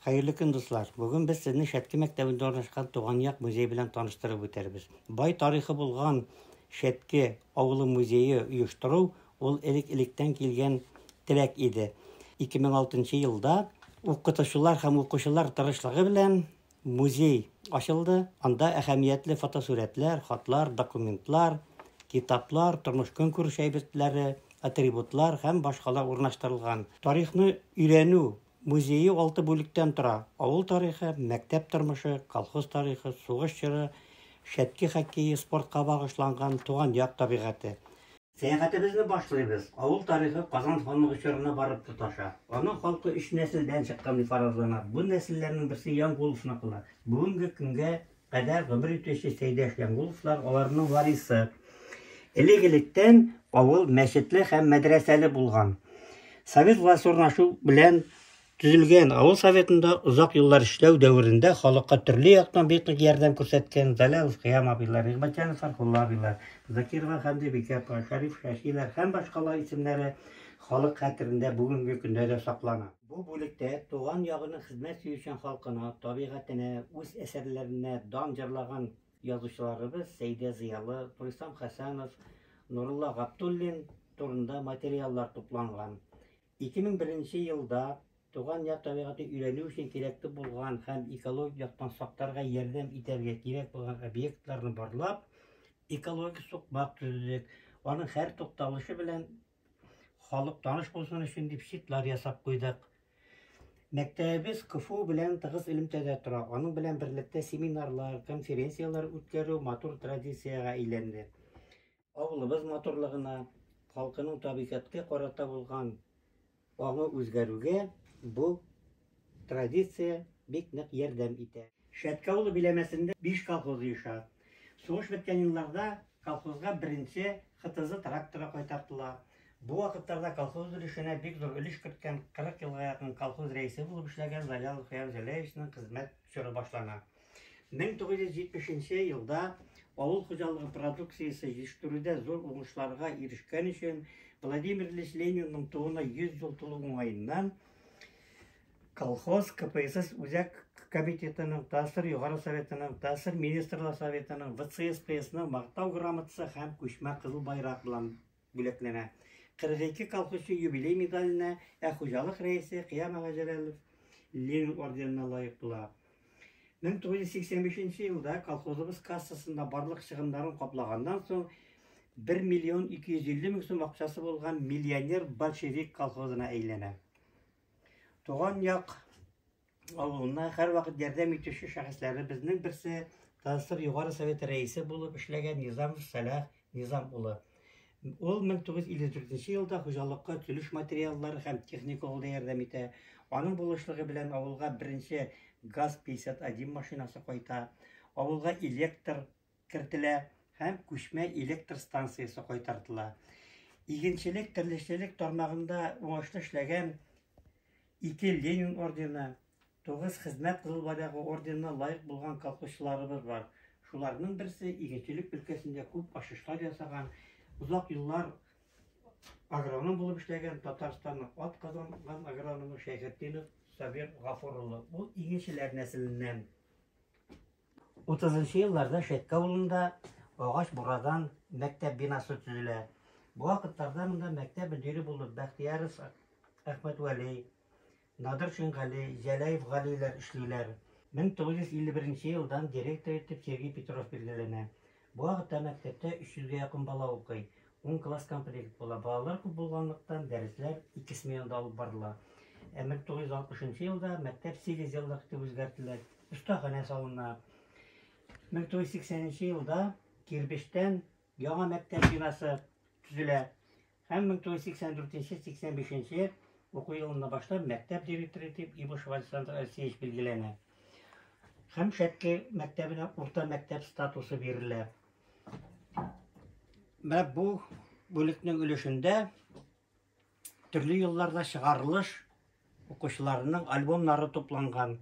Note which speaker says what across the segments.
Speaker 1: Хәерле көн, дуслар! Бүген без сезне Шәтке мәктәбендә урнашкан Туган як музей белән таныштырып үтәрбез. Бай тарихы булган Шәтке авылы музее оештыру ул элек-электән килгән теләк иде. 2006 елда укытучылар һәм укучылар тырышлыгы белән музей ачылды. Анда әһәмиятле фотосурәтләр, хатлар, документлар, китаплар, тормыш-көнкүреш әйбертләре, атрибутлар һәм башкалар урнаштырылган. Тарихны өйрәнү Музее алты бүлектән тора, авыл тарихы, мәктәп тормышы, колхоз тарихы, сугыш чоры, Шәтки хоккее, спортка багышланган, туган як табигате. Сәяхәтебезне башлыйбыз. Авыл тарихы Казан ханлыгы чорына барып тоташа. Аның халкы өч нәселдән чыккан дип фаразлана. Бу нәселләрнең берсе Янгул усмаклар. Бүгенге көнгә кадәр гомер итүче Сәйдәш Янгуловлар, аларның варисы. Элек-электән авыл мәчетле һәм мәдрәсәле булган. Совет власть урнашу белән Төзелгән авыл советында озак еллар эшләү дәверендә халыкка төрле яктан бик нык ярдәм күрсәткән Залялов Кыям абыйлар, Игъбатҗанов Фархулла абыйлар, Закирова Хәмдебикә апа, Шәриф Шәшиләр һәм башкалар исемнәре халык хәтерендә бүгенге көндә дә саклана. Бу бүлектә туган ягының хезмәт сөючән халкына, табигатенә, үз әсәрләренә дан җырлаган язучыларыбыз Сәйдә Зыялы, Турисам Хәсәнов, Нурулла Габдуллин турында материаллар тупланган. 2001 нче елда туган як табигатен өйрәнү өчен кирәкле булган һәм экологик яктан сакларга ярдәм итәргә кирәк булган объектларны барлап, экологик сукмак төзедек, аның һәр тукталышы белән халык таныш булсын өчен дип щитлар ясап куйдык. Мәктәбебез КФУ белән тыгыз элемтәдә тора. Аның белән берлектә семинарлар, конференцияләр үткәрү матур традициягә әйләнде. Авылыбыз матурлыгына, халкының табигатькә карата булган аңы үзгәрүгә бу Традиция бик нык ярдәм итә. Шәтке авылы биләмәсендә биш колхоз оеша. Сугыш беткән елларда колхозга беренче ХТЗ тракторы кайтартыла. Бу вакытларда колхоз өлешенә бик зур өлеш керткән, 40 елга якын колхоз рәисе булып эшләгән Залялов Фаяз Җәләевичның хезмәт чоры башлана. 1970 нче елда авыл хуҗалыгы продукциясе җитештерүдә зур уңышларга ирешкән өчен Владимир Ильич Ленинның тууына 100 ел тулу уңаеннан Колхоз, КПСС үзәк комитетының, ТАССР Югары Советының, ТАССР Министрлар Советының, ВЦСПСның мактау грамотасы һәм күчмә кызыл байрак белән бүләкләнә. 42 колхозчы юбилей медаленә, ә хуҗалык рәисе Кыям Җәләлов Ленин орденына лаек була. 1985 нче елда колхозыбыз кассасында барлык чыгымнарын каплаганнан соң 1 миллион 250 мең сум акчасы булган миллионер большевик колхозына әйләнә. Туган як авылына һәрвакыт ярдәм итүче шәхесләребезнең берсе ТСР Югары Советы рәисе булып эшләгән Низамов Сәлах Низам улы. Ул 1954 елда хуҗалыкка килеш материаллар һәм техника алуда ярдәм итә. Аның булышлыгы белән авылга беренче ГАЗ-51 машинасы кайта, авылга электр кертелә һәм күчмә электр станциясе кайтартыла. Игенчелек, терлекчелек тармагында уңышлы эшләгән ике Ленин ордены, Тугыз Хезмәт Кызыл Байрагы орденына лаек булган колхозчыларыбыз бар. Шуларның берсе, игенчелек өлкәсендә күп ачышлар ясаган, озак еллар агроном булып эшләгән Татарстанның атказанган агрономы Шәйхетдинов Сабир Гафур улы. Ул игенчеләр нәселеннән. 30 елларда Шәйкә авылында агач бурадан мәктәп бинасы төзелә. Бу вакытларда монда мәктәп мөдире булып Бәхтияров Әхмәтвәли, Надыр Шингали, Җәләев Галиләр эшлиләр. 1951 елдан директор итеп Сергей Петров билгеләнә. Бу вакытта мәктәптә 300 гә якын бала укый. Ун класс комплект була. Балалар күп булганлыктан, дәресләр ике сменада алып барыла. Ә 1960 елда мәктәп сигезъеллык итеп үзгәртелә, остаханә салына. 1980 елда кирбечтән Яңа мәктәп бинасы төзелә. Һәм 1984-85 уку елында башлап мәктәп директоры итеп Ибушев Александр Алексеевич билгеләнә. Һәм Шәтке мәктәбенә урта мәктәп статусы бирелә. Менә бу бүлекнең өлешендә төрле елларда чыгарылыш укучыларының альбомнары тупланган.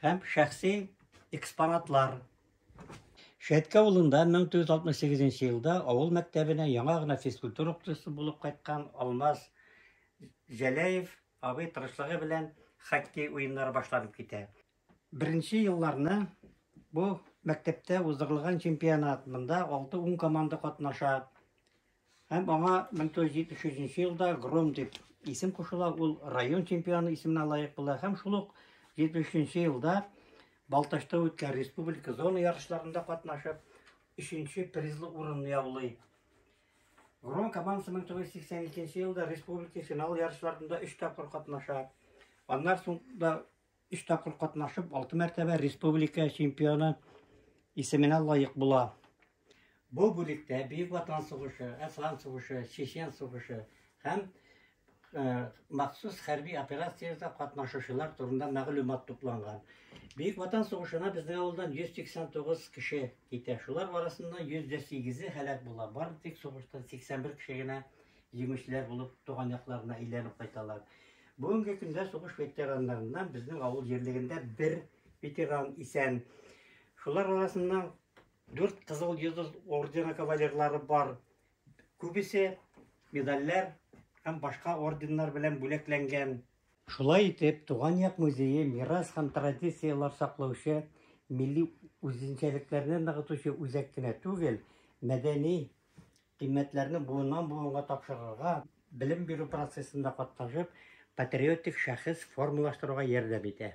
Speaker 1: һәм шәхси экспонатлар. Шәтке авылында 1968 елда авыл мәктәбенә яңа гына физкультура укытучысы булып кайткан Алмаз Җәләев абый тырышлыгы белән хоккей уеннары башланып китә. Беренче елларны бу мәктәптә уздырылган чемпионат, монда 6-10 команда катнаша. Һәм аңа 1973 елда Гром дип исем кушыла, ул район чемпионы исеменә лаек була һәм шул ук 73 елда Балтачта үткән республика зона ярышларында катнашып, 3-нче призлы урынны яулый. Гром командасы 1982 елда республика финал ярышларында 3 тапкыр катнаша. Аннан соң да Өч тапкыр катнашып, алты мәртәбә республика чемпионы исеменә лаек була. Бу бүлектә Бөек Ватан сугышы, Әфган сугышы, Чечен сугышы һәм э, махсус хәрби операцияләрдә катнашучылар турында мәгълүмат тупланган. Бөек Ватан сугышына безнең авылдан 189 кеше китә. Шулар арасында 108-е һәлак була. Бары тик сугыштан 81 кеше генә җиңүчеләр булып туган якларына әйләнеп кайталар. Бүгенге көндә сугыш ветераннарыннан безнең авыл җирлегендә бер ветеран исән. Шулар арасында дүрт кызыл йолдыз ордены кавалерлары бар. Күбесе медальләр һәм башка орденнар белән бүләкләнгән. Шулай итеп, Туган як музее мирас һәм традицияләр саклаучы, милли үзенчәлекләрне ныгытучы үзәк кенә түгел, мәдәни Кыйммәтләрне буыннан-буынга тапшырырга, белем бирү процессында катнашып, патриотик шәхес формалаштыруга ярдәм итә.